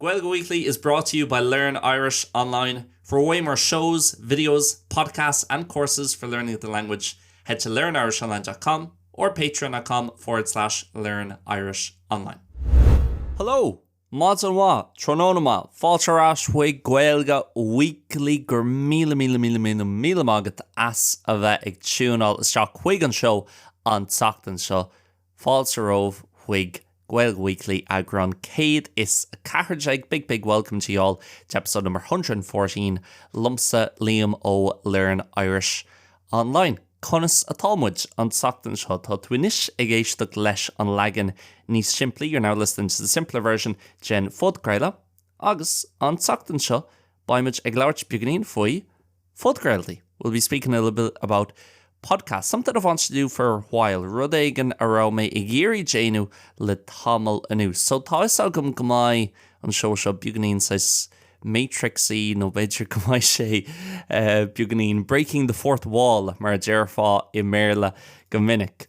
Gaeilge Weekly is brought to you by Learn Irish Online, For way more shows, videos, podcasts and courses for learning the language, head to learnirishonline dot com or patreon dot com forward slash learn irish online. Hello! Maidin mhaith, tráthnóna maith, fáilte ar ais chuig Gaeilge Weekly. Go raibh míle, míle, míle, míle, míle maith agat as a bheith ag tiúnáil isteach chuig an seó an tseachtain seo. Fáilte romhat chuig Gaeilge Weekly eagrán 114 Big big welcome to you all to episode number 114 liomsa Liam ó Learn Irish Online. Conas atá muid an tseachtain seo? Tá tú anois ag éisteacht leis an leagan níos simplí you're now listening to the simpler version den phodchraoladh agus an tseachtain seo beidh muid ag labhairt beagáinín faoi Phodchraoltaí, we'll be speaking a little bit about podcasts, something I've wanted to do for a while, rud éigin a raibh mé ag iarraidh déanamh le tamall anuas. So, tá 'fhios agam go mbeidh an seó seo beagainín saghas Matrixy nó b'fhéidir go mbeidh sé beagainín breaking the fourth wall mar a déarfá i mBéarla go minic.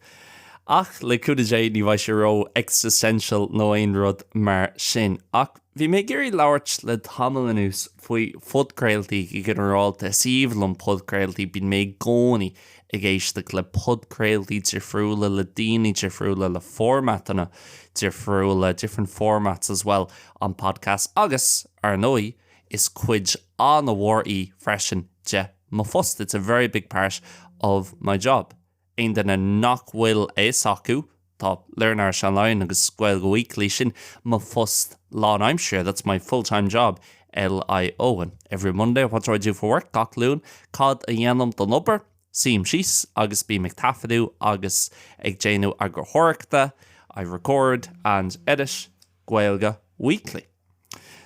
Ach, le cúnamh Dé, ní bheidh sé ró-existential nó aon rud mar sin. Ach. Bhí mé ag iarraidh labhairt le tamall anuas faoi phodchraoltaí go ginearálta. Is aoibhinn liom podchraoltaí, bíonn mé i gcónaí ag éisteacht le podchraoltaí difriúla, le daoine difriúla, le formatanna difriúla, different formats as well on podcasts, agus, ar ndóigh, is cuid an-mhór í freisin de mo phost, it's a very big part of my job. Aon duine nach bhfuil a fhios acu, tá Learn Irish Online agus Gaeilge Weekly, sin mo phost lán aimsire, that's my full time job, LIO. And every Monday, what do I do for work? Gach Luan, cad a dhéanaim don obair? Suím síos agus bím ag taifeadadh agus ag déanamh eagarthóireachta, I record and edit Gaeilge Weekly.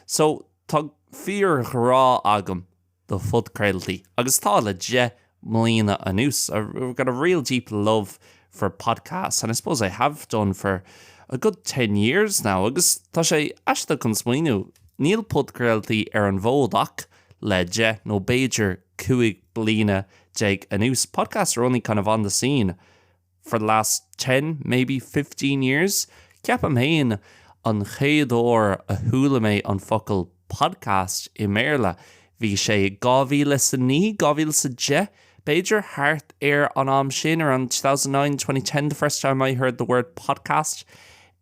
So, tá fíor ghrá agam do phodchraoltaí agus tá le deich mbliana anuas, I've got a real deep love for podcasts and I suppose I have done for a good ten years now agus tá sé aisteach chun smaoineamh, níl podchraoltaí ar an bhfód ach le deich nó b'fhéidir cúig bliana déag anuas, podcasts are only kind of on the scene for the last ten, maybe fifteen years, ceapaim féin, an chéad uair a chuala mé an focal podcast i mBéarla, bhí sé i dhá mhíle 's a naoi, dhá mhíle 's a deich, b'fhéidir, thart ar an am sin, around two thousand nine, twenty ten, the first time I heard the word podcast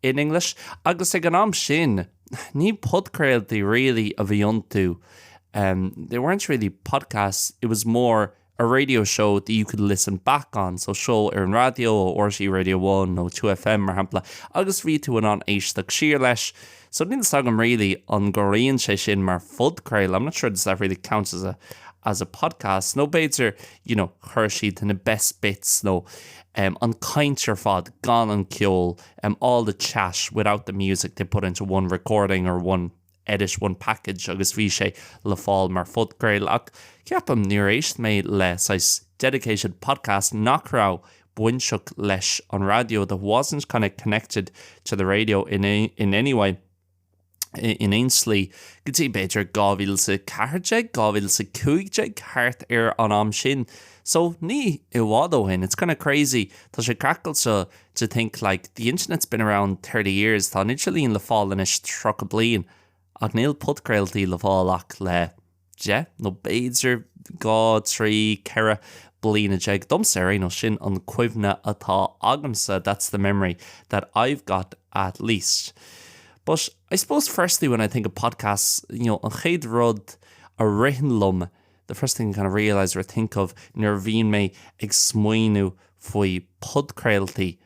in English, agus ag an am sin, ní podchraoltaí really a bhí iontu, they weren't really podcasts, it was more. a radio show that you could listen back on, so seó ar an raidió, ó RTÉ Radio One nó Two FM, mar shampla, agus bhí tú in ann éisteacht siar leis. So níl 'fhios agam really an gcomhaireann sé sin mar phodchraoladh, I'm not sure does that really count as a as a podcast, nó b'fhéidir, you know, chuir siad na best bits nó em an chaint ar fad gan an ceol, em all the chat without the music they put into one recording or one edit one package agus bhí sé le fáil mar phodchraoladh ach ceapaim níor éist mé le saghas dedicated podcast nach raibh bainteach leis an raidió that wasn't kind of connected to the radio in in any way in aon slí go dtí b'fhéidir 2014 2015 thart ar an am sin so ní i bhfad ó shin it's kind of crazy tá sé craiceailte to think, like, the internet's been around thirty years, tá an idirlíon le fáil anois tríocha bliain, ach níl podchraoltaí le fáil ach le deich nó b'fhéidir dhá, trí, ceithre bliana déag, domsa ar aon nós, sin an chuimhne atá agamsa, that's the memory that I've got at least. But I suppose firstly when I think of podcasts, you know, an chéad rud a ritheann liom, the first thing I kind of realise or think of nuair a bhíonn mé ag smaoineamh faoi podchraoltaí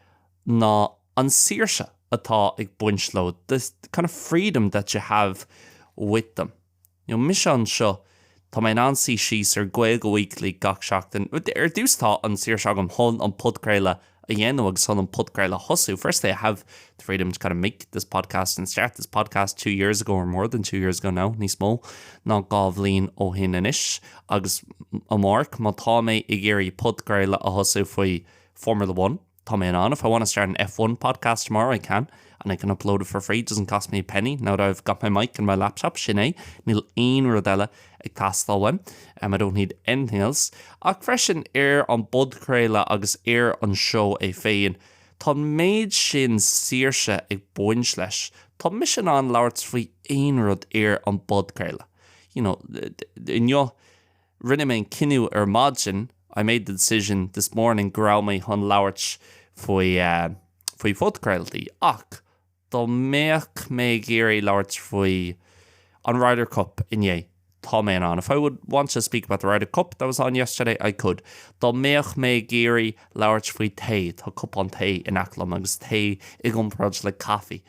ná an saoirse atá ag baint leo, the kind of freedom that you have with them. You know, mise anseo, tá mé in ann suí síos ar Gaeilge Weekly gach seachtain, ar dtús tá an saoirse agam chun an podchraoladh, a dhéanamh agus chun an podchraoladh a thosú, firstly I have the freedom to kind of make this podcast and start this podcast two years ago or more than two years ago now, níos mó ná dhá bhliain ó shin anois agus amárach, má tá mé ag iarraidh podchraoladh a thosú faoi Formula One, tá mé in ann, if I want to start an F1 podcast tomorrow, I can and I can upload it for free, it doesn't cost me a penny now that I've got my mic and my laptop, sin é, níl aon rud eile ag teastáil uaim, em, I don't need anything else, ach freisin, ar an bpodchraoladh agus ar an seó é féin, tá an méid sin saoirse ag baint leis, tá mise in ann labhairt faoi aon rud ar an bpodchraoladh, you know, inniu, rinne mé an cinneadh ar maidin, I made the decision this morning go raibh mé chun labhairt faoi, eh, faoi phodchraoltaí, ach, Dá mbeadh mé ag iarraidh labhairt faoi an Ryder Cup inné, tá mé in ann, If I would want to speak about the Ryder Cup that was on yesterday, I could. Dá mbeadh mé ag iarraidh labhairt faoi tae, tá cupán tae in aice liom, agus tae i gcomparáid le caife,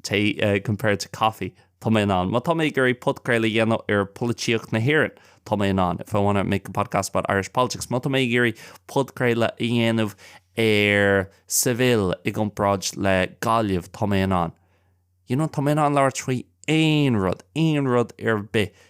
tae compared to coffee. Tá mé in ann, má tá mé ag iarraidh podchraoladh a dhéanamh ar pholaitíocht na hÉireann. Tá mé in ann, if I want to make a podcast about Irish politics. Má tá mé ag iarraidh podchraoladh a dhéanamh ar Seville i gcomparáid le Gaillimh, tá mé in ann. You know, tá mé in ann labhairt faoi aon rud, aon rud ar bith,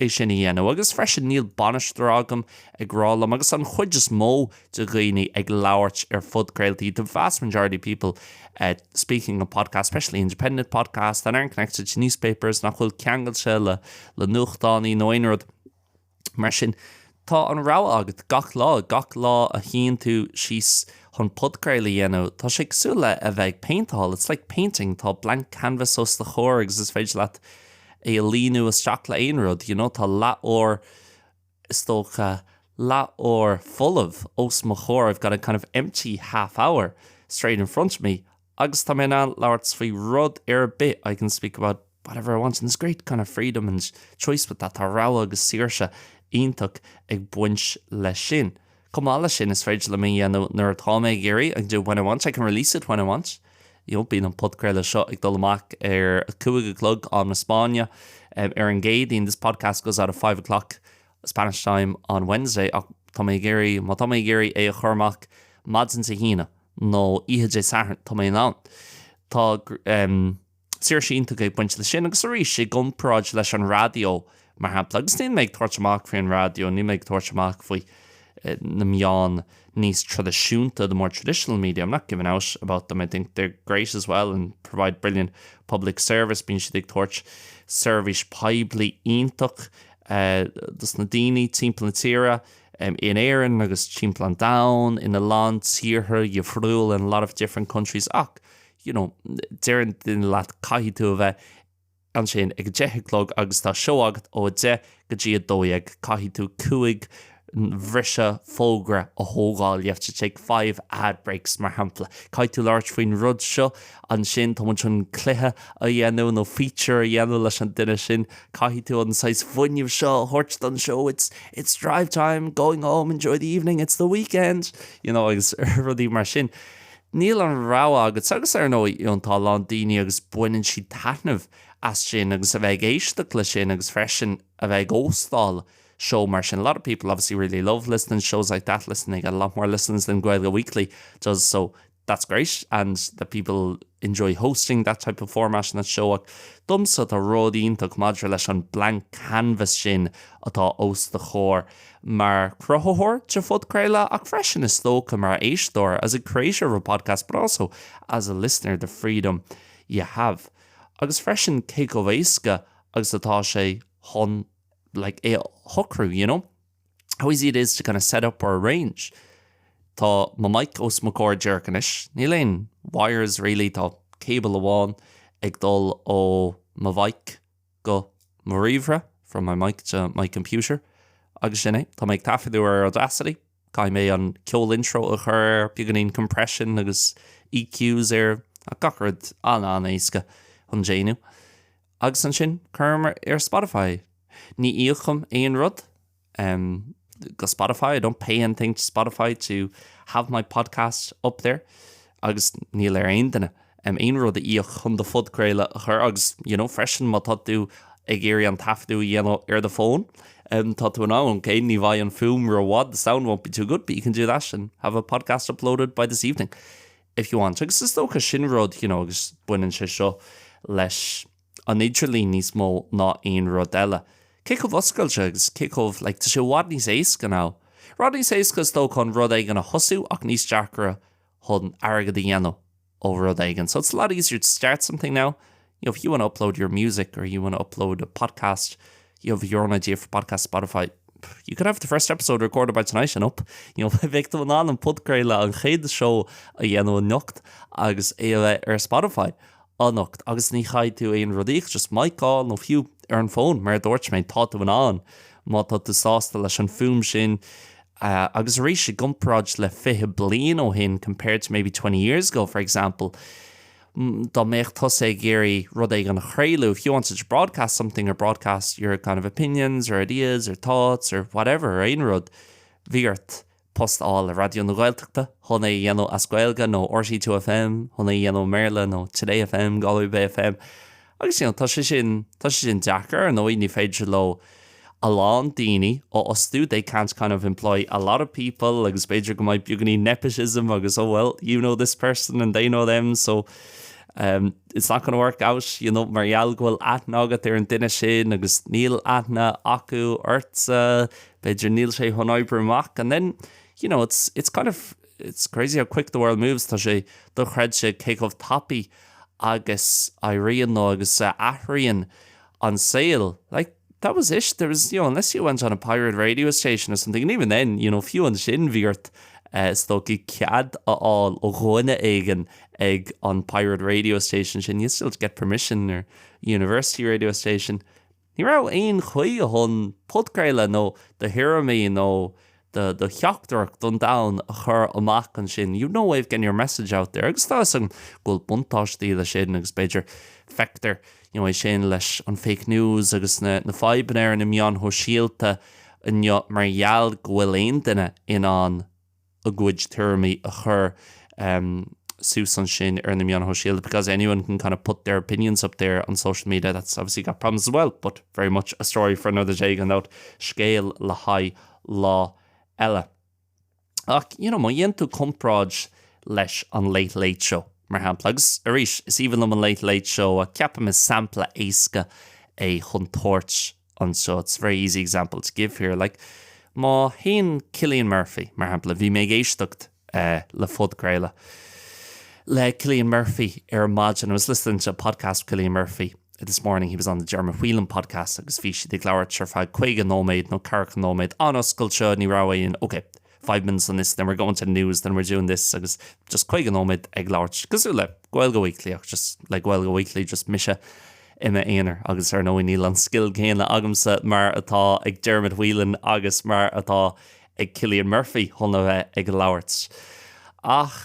é sin a dhéanamh agus freisin níl bainisteoir agam ag rá liom agus an chuid is mó de dhaoine ag labhairt ar phodchraoltaí the vast majority of people speaking on podcasts especially independent podcasts that aren't connected to newspapers nach bhfuil ceangailte le nuachtánaí nó aon rud mar sin Tá an rogha agat gach lá, gach lá a shuíonn tú síos chun podchraoladh a dhéanamh, tá sé cosúil le a bheith ag péinteáil, it's like painting, tá blank canvas os do chomhair agus is féidir leat é a líonadh isteach le aon rud, you know, tá leathuair, is dócha, leathuair folamh os mo chomhair, I've got a kind of empty half hour straight in front of me, Agus tá mé in ann labhairt faoi rud ar bith, I can speak about whatever I want and there's great kind of freedom and choice with that, tá rogha agus saoirse iontach ag baint leis sin. Chomh maith leis sin, is féidir liom é a dhéanamh nuair atá mé ag iarraidh, I can do it when I want, I can release it when I want. You know, bíonn an podchraoladh seo ag dul amach ar a cúig a chlog, am na Spáinne, ar an gCéadaoin, this podcast goes out at five o'clock Spanish time on Wednesday, ach tá mé ag iarraidh, má tá mé ag iarraidh é a chur amach maidin Dé hAoine, nó oíche Dé Sathairn, tá mé in ann. Tá, em, saoirse iontach ag baint leis sin agus arís, i gcomparáid leis an raidió, mar shampla, agus níl mé ag tabhairt amach faoi an raidió, níl mé ag tabhairt amach faoi, eh, na meáin níos traidisiúnta, the more traditional media, I'm not giving out about them, I think they're great as well and provide brilliant public service, bíonn siad ag tabhairt seirbhís poiblí iontach, eh, dos na daoine timpeall na tíre. in Éirinn agus timpeall an domhain, in a lán tíortha dhifriúla, in a lot of different countries, ach, you know, deireann duine leat caithfidh tú a bheith ansin ag a deich a chlog agus tá seó agat ó a deich go dtí a dó dhéag, caithfidh tú cúig bhriseadh fógra a thógáil, you have to take five ad breaks, mar shampla. Caithfidh tú labhairt faoin rud seo. Ansin, tá muid chun cluiche a dhéanamh, nó feature a dhéanamh leis an duine sin. Caithfidh tú an saghas fuinnimh seo a thabhairt don seó, it's, it's drive time, going home, enjoy the evening, it's the weekend! You know, agus rudaí mar sin. Níl an rogha agat. Agus ar ndóigh, you know, tá a lán daoine agus baineann siad taitneamh as sin agus a bheith ag éisteacht le sin agus freisin a bheith ag óstáil seó mar sin. A lot of people obviously really love listening to shows like that, listen, they get a lot more listens than Gaeilge Weekly does, so, that's great and that people enjoy hosting that type of format in a show ach domsa tá rud iontach maidir leis an blank canvas sin atá os do chomhair mar chruthaitheoir de phodchraoladh ach freisin is dócha mar éisteoir as a creator of a podcast but also as a listener the freedom you have agus freisin cé chomh éasca agus atá sé chun like é a shocrú you know. how easy it is to kind of set up or arrange tá mo mic os mo comhair díreach anois níl aon wires really tá cable amháin ag dul ó mo mhic go mo ríomhaire from my mic to my computer agus sin é tá mé ag taifeadadh ar Audacity caithfidh mé an ceol intro a chur air beagáinín compression agus EQs air ach gach rud an-an-éasca chun déanamh. Agus ansin chur amach ar Spotify. Ní íocaim aon rud go Spotify, I don't pay anything to Spotify to have my podcast up there, agus níl ar aon duine aon rud a íoc chun do phodchraoladh a chur agus you know freisin má tá tú ag iarraidh an taifeadadh a dhéanamh ar an phone, tá tú in ann, ok, ní bheidh an fuaim ró-mhaith, the sound won't be too good, but you can do that and have a podcast uploaded by this evening. if you want. Agus is dócha sin rud, you know, agus baineann sé seo leis an idirlíon níos mó ná aon rud eile. Cé chomh oscailte agus cé chomh, like, tá sé i bhfad níos éasca now. Rud níos éasca is dócha chun rud éigin a thosú ach níos deacra chun airgead a dhéanamh ó rud éigin. So it's a lot easier to start something now, If you wanna upload your music or you wanna upload a podcast, you have your own idea for podcast Spotify, you could have the first episode recorded by tonight and up, you know, bheadh tú in ann an podchraoladh, an chéad seó a dhéanamh anocht agus é a bheith ar Spotify anocht agus ní theastaíonn aon rud uait ach just mic amháin nó fiú ar an bhfón mar a dúirt mé, tá tú in ann má tá tú sásta leis an fuaim sin agus arís i gcomparáid le 20 bliain ó shin compared to maybe 20 years ago for example. dá mbeadh tusa ag iarraidh rud éigin a chraoladh, if you wanted to broadcast something or broadcast your kind of opinions or ideas or thoughts or whatever, ar aon rud, bhí ort post a fháil le Raidió na Gaeltachta chun é a dhéanamh as Gaeilge, nó RTÉ 2FM chun é a dhéanamh i mBéarla, nó Today FM, Galway Bay FM. Agus you know, tá sé sin, tá sé sin deacair, ar ndóigh, ní féidir leo a lán daoine a fhostú, they can't kind of employ a lot of people agus b'fhéidir go mbeidh beagáinín nepotism agus oh well, you know this person and they know them so ehm it's not gonna work out you know mar gheall go bhfuil aithne agat ar an duine sin agus níl aithne acu ortsa, b'fhéidir níl sé chun obair amach and then you know, it's, it's kind of. It's crazy how quick the world moves, tá sé dochreidte cé chomh tapaidh agus a éiríonn nó agus a athraíonn an saol. Like, that was it, there was, you know, unless you went on a pirate radio station or something and even then, you know, fiú ansin bhí ort, is dócha, cead a fháil ó dhuine éigin ag an pirate radio station sin, you'd still have to get permission, or university radio station. Ní raibh aon chaoi chun podchraoltaí nó do thuairimí nó do theachtaireacht don domhan a chur amach ansin, you've no way of getting your message out there agus tá 'fhios agam go bhfuil buntáistí leis sin agus b'fhéidir feictear you know é sin leis an fake news agus na na fadhbanna ar na meáin shóisialta inniu mar gheall go bhfuil aon duine in ann a gcuid tuairimí a chur suas ansin ar na meáin shóisialta because anyone can kind of put their opinions up there on social media that's obviously got problems as well but very much a story for another day gan dabht, scéal le haghaidh lá eile. Ach you know má dhéanann tú comparáid leis an Late Late Show mar shampla, agus arís is aoibhinn liom an Late Late Show ach ceapaim is sampla éasca é chun tabhairt anseo it's a very easy example to give here like má théann Cillian Murphy mar shampla bhí mé ag éisteacht le podchraoladh le Cillian Murphy ar maidin I was listening to a podcast with Cillian Murphy this morning he was on the Dermot Whelan podcast agus bhí siad ag labhairt ar feadh 50 nóiméad nó 40 nóiméad an-oscailte ní raibh aon okay. five minutes on this, then we're going to the news, then we're doing this agus just caoga nóiméad ag labhairt cosúil le Gaeilge Weekly just like Gaeilge Weekly just mise i m'aonar agus ar ndóigh níl an scil céanna agamsa mar atá ag Dermot Whelan agus mar atá ag Cillian Murphy chun a bheith ag labhairt ach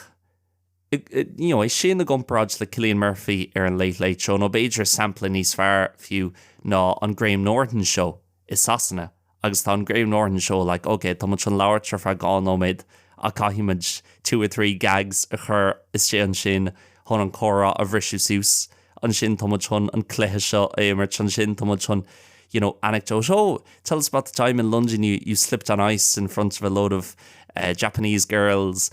you know, é sin i gcomparáid le Cillian Murphy ar an Late Late Show nó b'fhéidir sampla níos fearr fiú ná an Graham Norton Show i Sasana agus tá an Graham Norton Show like ok tá muid chun labhairt ar feadh dhá nóiméad ach caithfidh muid two or three gags a chur istigh ansin chun an comhrá a bhriseadh suas ansin tá muid chun an cluiche seo a imirt, ansin tá muid chun you know anecdote, oh, tell us about the time in London you you slipped on ice in front of a load of eh Japanese girls,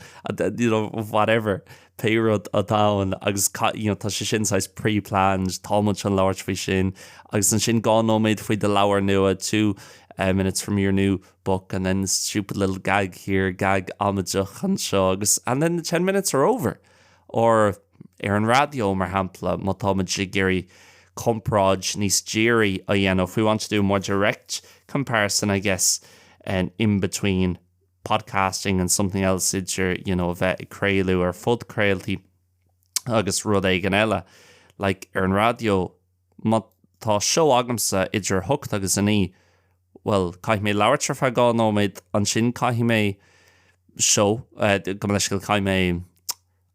you know, whatever, pé rud atá ann agus you know tá sé sin saghas pre-planned, tá muid chun labhairt faoi sin agus ansin dhá nóiméad faoi do leabhar nua, two eh minutes on your new book and then stupid little gag here, gag amaideach anseo agus and then the ten minutes are over! Or ar an raidió, mar shampla, má tá muid ag iarraidh comparáid níos dírí a dhéanamh, if we want to do a more direct comparison, I guess, in between podcasting and something else, idir, you know, bheith ag craoladh ar phodchraoltaí agus rud éigin eile, like, ar an raidió, má tá seó agamsa idir a hocht agus a naoi, bhuel, caithfidh mé labhairt ar feadh dhá nóiméad, ansin caithfidh mé seó, gabh mo leithscéal, caithfidh mé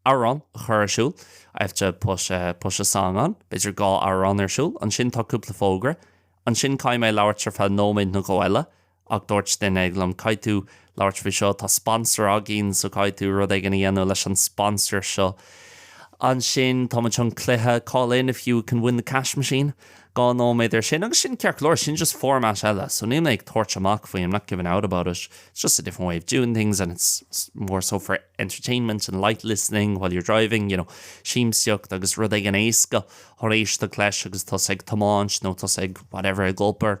amhrán a chur ar siúl, I have to put, push a song on, b'fhéidir dhá amhrán ar siúl, ansin tá cúpla fógra, ansin caithfidh mé labhairt ar feadh nóiméad nó dhó eile, Ach dúirt duine éigin liom, Caithfidh tú labhairt faoi seo, tá sponsor againn so caithfidh tú rud éigin a dhéanamh leis an sponsor seo. Ansin tá muid chun cluiche, call in if you can win the cash machine. Dhá nóiméad ar sin agus sin ceart go leor, sin just format eile so níl mé ag tabhairt amach faoi, I'm not giving out about it, it's just a different way of doing things and it's more so for entertainment and light listening while you're driving, you know, siamsaíocht agus rud éigin éasca chun éisteacht leis agus tusa ag tiomáint nó tusa ag whatever, ag obair.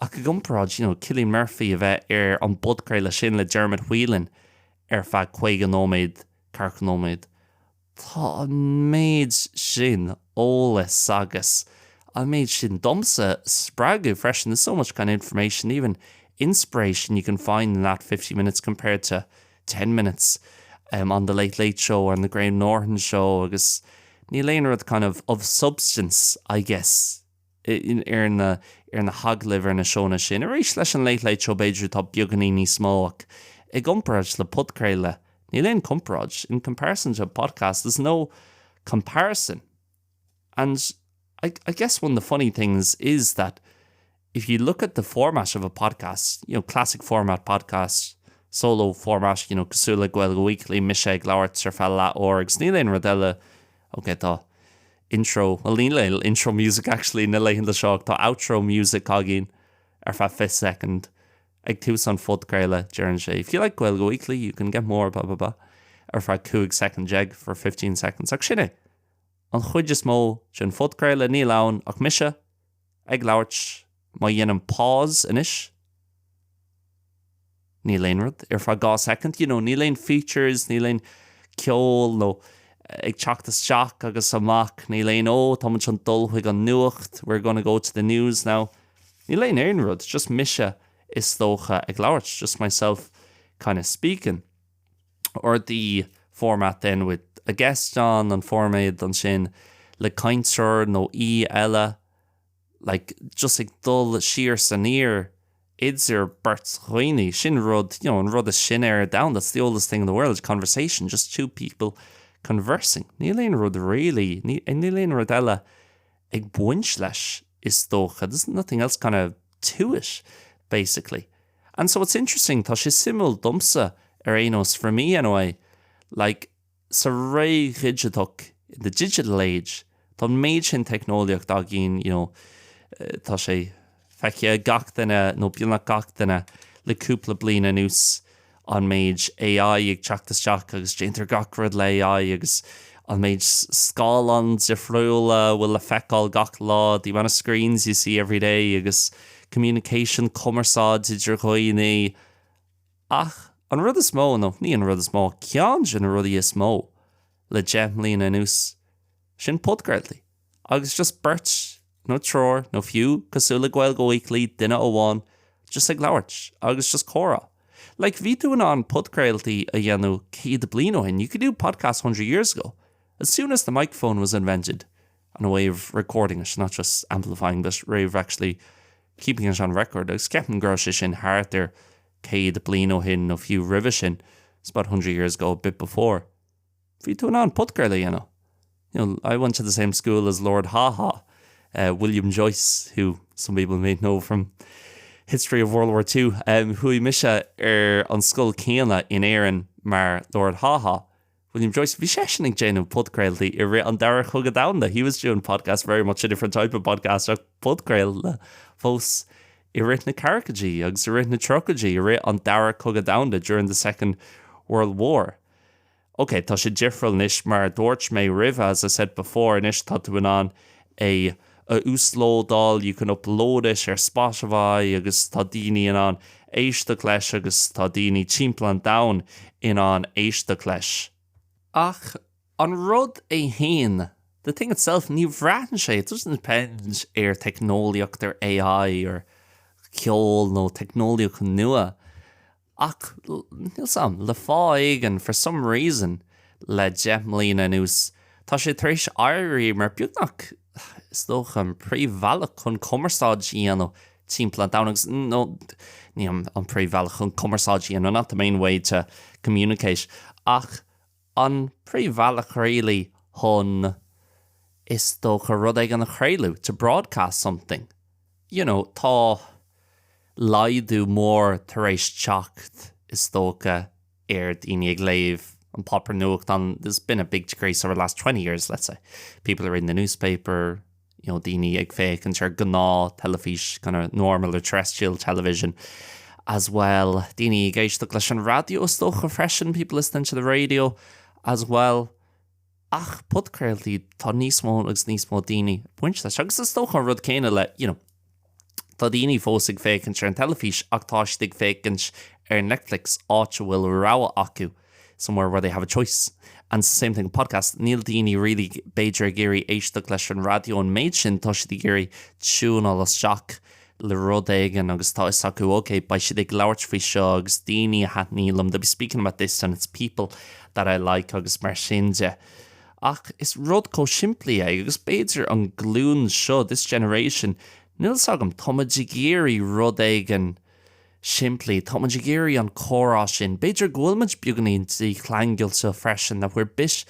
Ach i gcomparáid, you know, Cillian Murphy a bheith ar an bpodchraoladh sin le Dermot Whelan ar feadh 50 nóiméad, 40 nóiméad, tá an méid sin eolas agus an méid sin, domsa, spreagadh freisin, there's so much kind of information, even inspiration you can find in that 50 minutes compared to 10 minutes on the Late Late Show or on the Graham Norton Show agus níl aon rud kind of of substance, I guess. ar na, ar na hagallaimh, ar na seónna sin. Arís leis an Late Late Show b'fhéidir atá beagáinín níos mó ach i gcomparáid le podchraoladh níl aon chomparáid, in comparison to a podcast there's no comparison and I, I guess one of the funny things is that if you look at the format of a podcast, you know, classic format podcast, solo format, you know, cosúil le Gaeilge Weekly, mise ag labhairt ar feadh leath uair agus níl aon rud eile, okay tá. intro, bhuel níl aon intro music actually na laethanta seo ach tá outro music againn ar feadh 20 soicind ag tús an phodchraoladh, deireann sé if you like Gaeilge Weekly you can get more blah blah blah ar feadh 15 soicind for fifteen seconds ach sin é an chuid is mó den phodchraoladh, níl ann ach mise. ag labhairt, má dhéanaim pause anois, níl aon rud, ar feadh dhá soicind, you know, níl aon features, níl aon ceol, nó ag teacht isteach agus amach, níl aon oh, tá muid chun dul chuig an nuacht, we're gonna go to the news now, níl aon aon rud, just mise, is dócha, ag labhairt, just myself kind of speaking. Or the format then with a guest, an formáid ansin le cainteoir nó aoi eile, like just ag dul siar 's aniar idir beirt dhaoine, sin rud, you know an rud is sine ar domhan, that's the oldest thing in the world, conversation, just two people conversing. Níl aon rud really, níl aon rud eile ag baint leis is dócha, there's nothing else kind of to it, basically. And so it's interesting, tá sé suimiúil, domsa ar aon nós, for me anyway, like, sa ré dhigiteach, in the digital age, tá an méid sin teicneolaíocht againn, you know, tá sé feicthe ag gach duine, nó beagnach gach duine, le cúpla bliain anuas, an méid AI ag teacht isteach agus déantar gach rud le AI agus an méid scáileán difriúla a bhfuil le feiceáil gach lá, the amount of screens you see every day agus, communication, cumarsáid idir dhaoine, ach an rud is mó, nó ní an rud is mó, ach ceann de na rudaí is mó le deich mbliana anuas, sin podchraoltaí, agus just beirt, nó triúr, nó fiú, cosúil le Gaeilge Weekly, duine amháin just ag labhairt, agus just comhrá. Like, bhí tú in ann podchraoltaí a dhéanamh céad bliain ó shin, you could do podcasts hundred years ago, as soon as the microphone was invented. on a way of recording it, not just amplifying but way of actually keeping it on record agus ceapaim go raibh sé sin thart ar céad bliain ó shin nó fiú roimhe sin it's about hundred years ago, a bit before bhí tú in ann podcairl a dhéanamh you know I went to the same school as Lord Haw Haw, eh, William Joyce who some people may know from history of World War Two, em, chuaigh mise ar an scoil céanna in Éirinn mar Lord Haw Haw. William Joyce, bhí seisean ag déanamh podchraoltaí i rith an Dara Cogadh Domhanda, he was doing podcasts very much a different type of podcast ach podchraoladh fós i rith na ceathrachadaí agus i rith na tríochaidí, i rith an Dara Cogadh Domhanda, during the Second World War. Ok, tá sé difriúil anois, mar a dúirt mé roimhe, as I said before, anois tá tú in ann a. a uaslódáil, you can upload it, ar Spotify agus tá daoine in ann éisteacht leis agus tá daoine timpeall an domhain in ann éisteacht leis. Ach an rud é féin, the thing itself, ní bhraitheann sé, it doesn't depend, ar theicneolaíocht, ar AI, ar cheol nó teicneolaíocht nua. Ach níl 'fhios agam, le fáth éigin, for some reason, le deich mbliana anuas, tá sé tar éis éirí mar, beagnach, is dócha, an príomhbhealach chun cumarsáid a dhéanamh timpeall an domhain, agus, nó, ní an príomhbhealach chun cumarsáid a dhéanamh, not the main way to communicate, ach, An príomhbhealach really chun, is dócha, rud éigin a chraoladh, to broadcast something. You know, tá laghdú mór tar éis teacht, is dócha, ar daoine ag léamh an páipéar nuachtán, there's been a big decrease over the last twenty years, let's say. People are reading the newspaper. you know daoine ag féachaint ar gnáth teilifís kind of normal or terrestrial television as well daoine ag éisteacht leis an raidió is dócha freisin people listening to the radio as well ach podchraoltaí tá níos mó agus níos mó daoine ag baint leis agus is dócha an rud céanna le you know Tá daoine fós ag féachaint ar an teilifís ach tá siad ag féachaint ar Netflix, áit a bhfuil rogha acu, somewhere where they have a choice. And same thing with podcasts, níl daoine really b'fhéidir ag iarraidh éisteacht leis an raidió an méid sin, tá siad ag iarraidh tiúineáil isteach le rud éigin agus tá 'fhios acu, ok, beidh siad ag labhairt faoi seo agus daoine a thaitníonn liom, they'll be speaking about this and it's people that I like agus mar sin de. Ach is rud chomh simplí é, agus b'fhéidir an glúin seo, this generation, níl 'fhios agam, tá muid ag iarraidh rud éigin simplí, tá muid ag iarraidh an comhrá sin, b'fhéidir go bhfuil muid beagainín dícheangailte freisin, that we're bit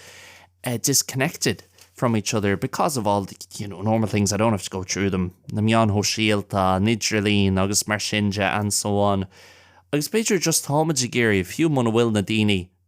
disconnected from each other because of all the, you know, normal things, I don't have to go through them, na meáin shóisialta, an idirlíon agus mar sin de and so on. Agus b'fhéidir just tá muid ag iarraidh, fiú muna bhfuil na daoine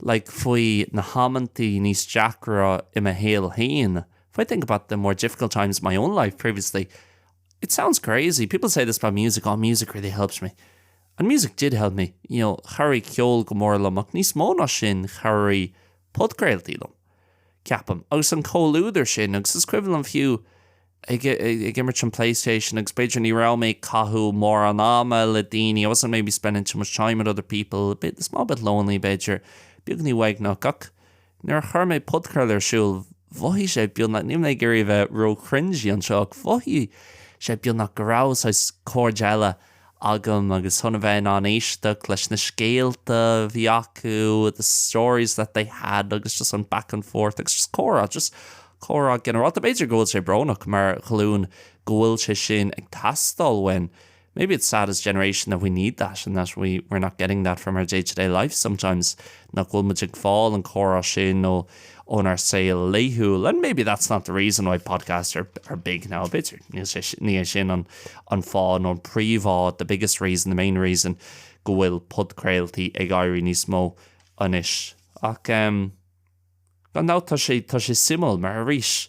like faoi na hamanntaí níos deacra i mo shaol féin if I think about the more difficult times in my own life previously it sounds crazy, people say this about music, oh music really helps me and music did help me, you know chabhraigh ceol go mór liom ach níos mó ná sin chabhraigh podchraoltaí liom ceapaim agus an comhluadar sin agus is cuimhin liom fiú ag imirt an Playstation agus b'fhéidir ní raibh mé ag caitheamh mórán ama le daoine, I wasn't maybe spending too much time with other people, a small bit lonely b'fhéidir, beagní uaigneach ach nuair a chuir mé podchraoladh ar siúl mhothaigh sé beagnach, níl mé ag iarraidh a bheith ró-chringy anseo ach mhothaigh sé beagnach go raibh saghas cairde eile agam agus chun a bheith in ann éisteacht leis na scéalta a bhí acu, the stories that they had agus just on back and forth agus just comhrá, just comhrá ginearálta. B'fhéidir go bhfuil sé brónach mar ghlúin go bhfuil sé sin ag teastáil uainn, maybe it's sad as generation that we need that and that we, we're not getting that from our day-to-day life sometimes, nach bhfuil muid ag fáil an comhrá sin nó, ónár saol laethúil and maybe that's not the reason why podcasts are are big now, b'fhéidir ní hé sin an an fáth nó an príomh-fháth the biggest reason, the main reason go bhfuil podchraoltaí ag éirí níos mó anois ach ehm gan dabht tá sé tá sé suimiúil mar arís,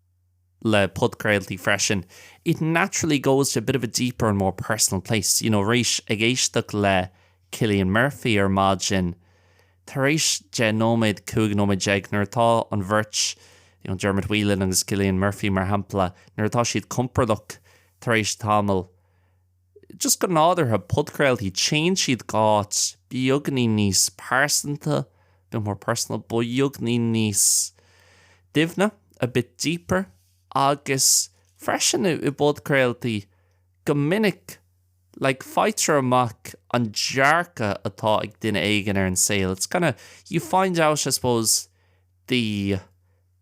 le podchraoltaí freisin, it naturally goes to a bit of a deeper and more personal place, you know, arís ag éisteacht le Cillian Murphy ar maidin, tar éis deich nóiméad, cúig nóiméad déag, nuair atá an bheirt, you know, Dermot Whelan agus Cillian Murphy mar shampla, nuair atá siad compordach tar éis tamaill, Just go nádúrtha, podchraoltaí, téann siad d'áit beagní níos pearsanta, a bit more personal, beagní níos doimhne, a bit deeper, agus freisin i bpodchraoltaí go minic like faightear amach an dearcadh atá ag duine éigin ar an saol, it's kind of, you find out I suppose the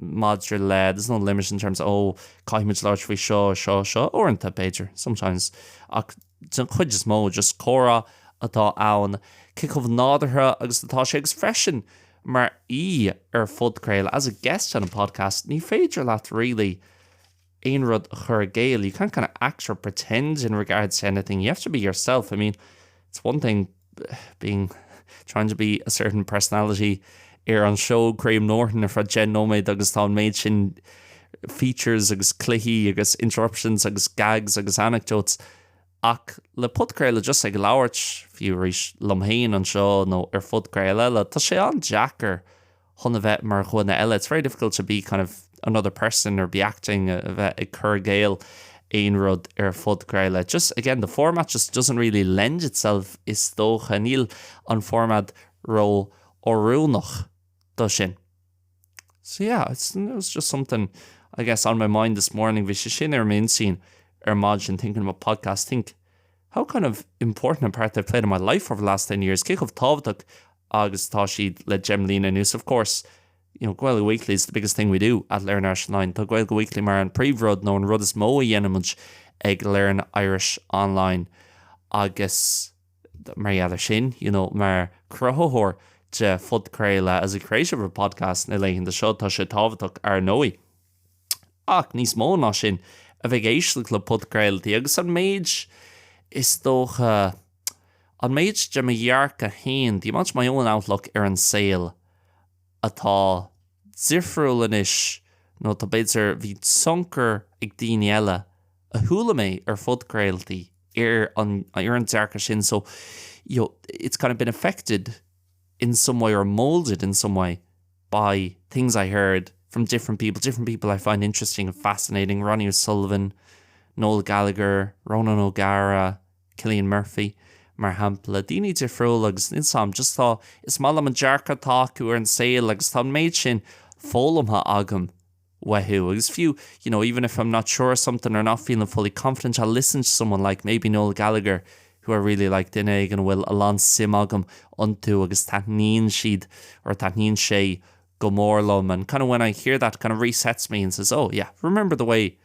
maidir le, there's no limit in terms of, oh caithfidh muid labhairt faoi seo, seo, seo, uaireanta b'fhéidir, sometimes, ach den chuid is mó just comhrá atá ann, cé chomh nádúrtha agus atá sé agus freisin mar aoi ar phodchraoladh, as a guest on a podcast, ní féidir leat really, aon rud a chur i gcéill, you can't kind of act or pretend in regards to anything, you have to be yourself, I mean it's one thing being, trying to be a certain personality ar an seó Graham Norton ar feadh deich nóiméad agus tá an méid sin features agus cluichí agus interruptions agus gags agus anecdotes ach le podchraoladh just ag labhairt, fiú arís, liom féin anseo nó ar phodchraoladh eile, tá sé an-deacair. chun a bheith mar dhuine eile, it's very difficult to be kind of another person or be acting, a bheith ag cur i gcéill aon rud ar phodchraoladh just, again, the format just doesn't really lend itself is dócha, níl an format ró oiriúnach do sin. So yeah, it's, it was just something I guess on my mind this morning, bhí sé sin ar m'intinn ar maidin thinking about podcasts, think, how kind of important a part they've played in my life over the last ten years cé chomh tábhachtach agus atá siad le deich mbliana anuas of course, you know, Gaeilge Weekly is the biggest thing we do at Learn Irish Online tá Gaeilge Weekly mar an príomhrud nó an rud is mó a dhéanaimid ag Learn Irish Online agus mar gheall air sin, you know, mar chruthaitheoir de phodchraoladh as a creator of a podcast na laethanta seo tá sé tábhachtach, ar ndóigh. ach níos mó ná sin, a bheith ag éisteacht le podchraoltaí agus an méid, is dócha, an méid de mo dhearcadh féin, the amount of my own outlook, ar an saol atá difriúil anois nó tá, b'fhéidir, bhí tionchar ag daoine eile a chuala mé ar phodchraoltaí ar an, ar an dearcadh sin, so, you know, it's kind of been affected in some way or moulded in some way. by things I heard from different people, different people I find interesting and fascinating, Ronnie O'Sullivan, Noel Gallagher, Ronan O'Gara, Cillian Murphy, mar shampla. Daoine difriúla agus níl 's agam, just tá, is maith liom an dearcadh atá acu ar an saol agus tá an méid sin foghlamtha agam. uathu agus fiú you know even if I'm not sure of something or not feeling fully confident I'll listen to someone like maybe Noel Gallagher who I really like duine éigin a bhfuil a lán suim agam iontu agus taitníonn siad or taitníonn sé go mór liom and kind of when I hear that kind of resets me and says oh yeah remember the way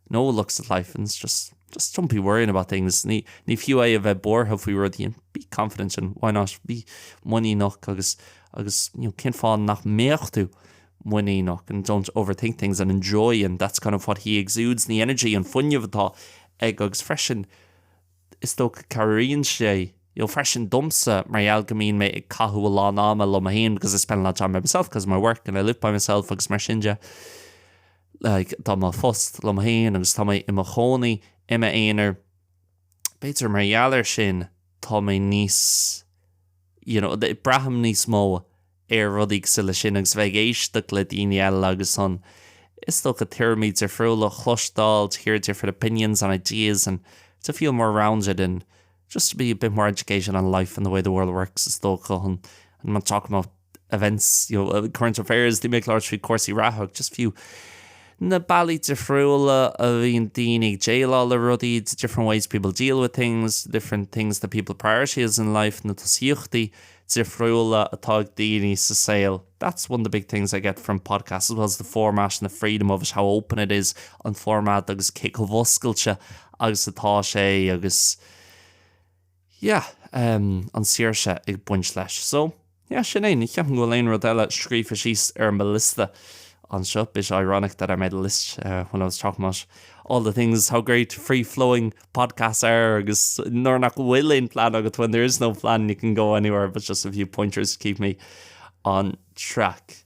Noel looks at life and just, just don't be worrying about things, ní, ní fiú é a bheith buartha faoi rudaí and be confident and why not, bí muiníneach agus, agus you know, cén fáth nach mbeadh tú muiníneach and don't overthink things and enjoy and that's kind of what he exudes, the energy, an fuinneamh atá aige agus freisin is dócha cabhraíonn sé you know, freisin domsa mar gheall go mbíonn mé ag caitheamh a lán ama liom fhéin because I spend a lot of time by myself because of my work and I live by myself agus mar sin de. like tá mo phost liom féin agus tá mé i mo chónaí i m'aonar, b'fhéidir mar gheall air sin tá mé níos you know braithim níos mó ar rudaí cosúil leis sin agus bheith ag éisteacht le daoine eile agus an is dócha tuairimí difriúla a chloisteáil, to hear different opinions and ideas and to feel more rounded and just to be a bit more educated on life and the way the world works is dócha an an talking about events, you know, current affairs, bheith ag labhairt faoi chúrsaí reatha agus just fiú na bealaí difriúla a bhíonn daoine ag déileáil le rudaí, the different ways people deal with things, the different things that people prioritize in life, na tosaíochtaí difriúla atá ag daoine sa saol. That's one of the big things I get from podcasts as well as the format and the freedom of it, how open it is, an format agus cé chomh oscailte agus atá sé agus, yeah, em, an tsaoirse ag baint leis. So, yeah, sin é, ní cheapann go bhfuil aon rud eile scríofa síos ar mo liosta anseo, bit ironic that I made a list when I was talking about all the things, how great free-flowing podcasts are agus nuair nach bhfuil aon phlean agat, when there is no plan, you can go anywhere, but just a few pointers to keep me on track.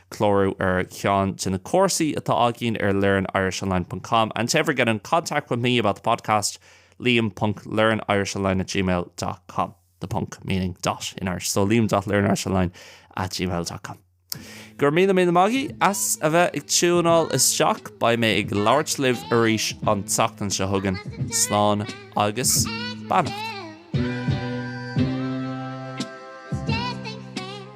Clárú ar cheann de na cúrsaí atá againn ar learnirishonline ponc com and to ever get in contact with me about the podcast, liam ponc learnirishonline at gmail dot com the ponc meaning dot in Irish, so liam dot learnirishonline at gmail dot com Go raibh míle míle maith agaibh as a bheith ag tiúnáil isteach, beidh mé ag labhairt libh arís an tseachtain seo chugainn. Slán agus beannacht.